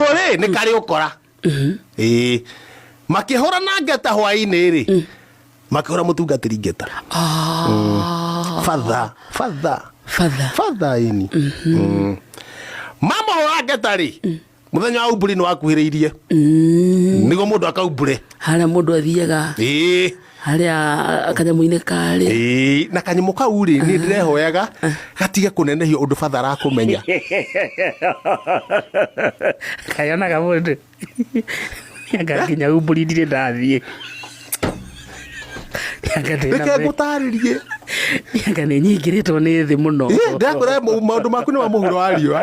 ũguo rĩ nĩ karĩ ũkora ĩĩ makĩhũra na ngeta hwaĩ-inĩ rĩ makĩhũra mũtungatĩri ngeta Ah, fatha fatha father fatha ini Mm. mamũhũra ngeta rĩ mũthenya wa umburi nĩ wakuhĩrĩirie nĩguo mũndũ akaumbure harĩa mũndũ athiaga ĩĩ harĩa kanyamũ-inĩ karĩ Ĩĩ, na kanyamũ kau rĩ nĩ ndĩrehoyaga gatige kũnenehio ũndũ batha arakũmenya kayonaga mũndũ nganginya humbũri ndirĩ ndathiĩ reke ngũtarĩrie nĩanga nĩ nyingĩrĩtwo nĩ thĩ mũno Ĩ, ndĩrakwĩra mau- maũndũ maku nĩ ma mũhuro wa riũa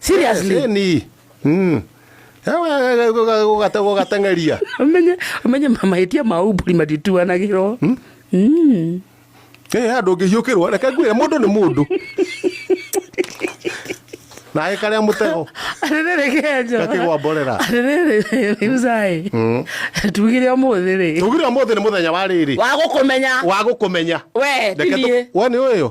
seriously Yes, ni. Mm. Ewe, gũga- gũgate- gũgatengeria. umenye umenye mahĩtia ma umbũri matituanagĩrwo Mm. Eh, andũ ngĩhiũkĩrwo reke ngwĩre mũndũ nĩ mũndũ naĩ karĩa mũtego atĩrĩrĩ kenjo Gakĩgwa mborera. atĩrĩrĩ riucai tugire ũmũthĩ rĩ tugire ũmũthĩ nĩ mũthenya wa rĩrĩ wa gũkũmenya wa gũkũmenya we Reke tũ- tinie we nĩ ũyũ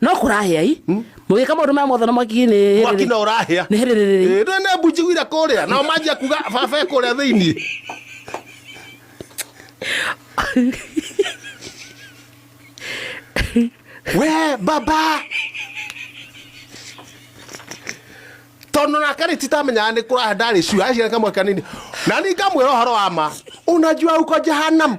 no kũrahĩa i hmm? mũgĩka maũndũ maya mothe na mwaki nĩ mwaki no ũrahĩa nĩ hĩrĩrĩrĩ ndwe nĩ mbu njiguire kũrĩa nao manjia kuga baba kũrĩa thĩinĩ we baba tondå nake rä titamenyaga nä kå raha ndarä cua acira kamwe kanini na ningamwä ra å horo wa ma unajua uko jahanam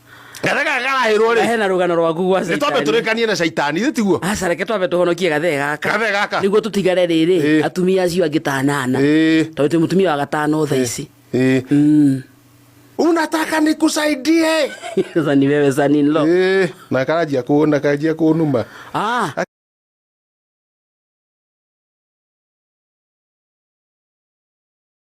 gathe gaka karahĩrwo rĩ hena rũgano rwaku gwa nĩ twambe tũrĩkanie na caitani nĩ tiguo aca reke twambe tũhonokie gathe gaka gathe gaka nĩguo tũtigare rĩrĩ Ĩĩ. atumia acio angĩ tanana Ĩĩ. tondũ twĩ mũtumia wa gatano tha ici Ĩĩ. Mm. unataka nikusaidie sasa ni wewe saninlo Ĩĩ, na karanjia kũ- na karanjia kũnuma ah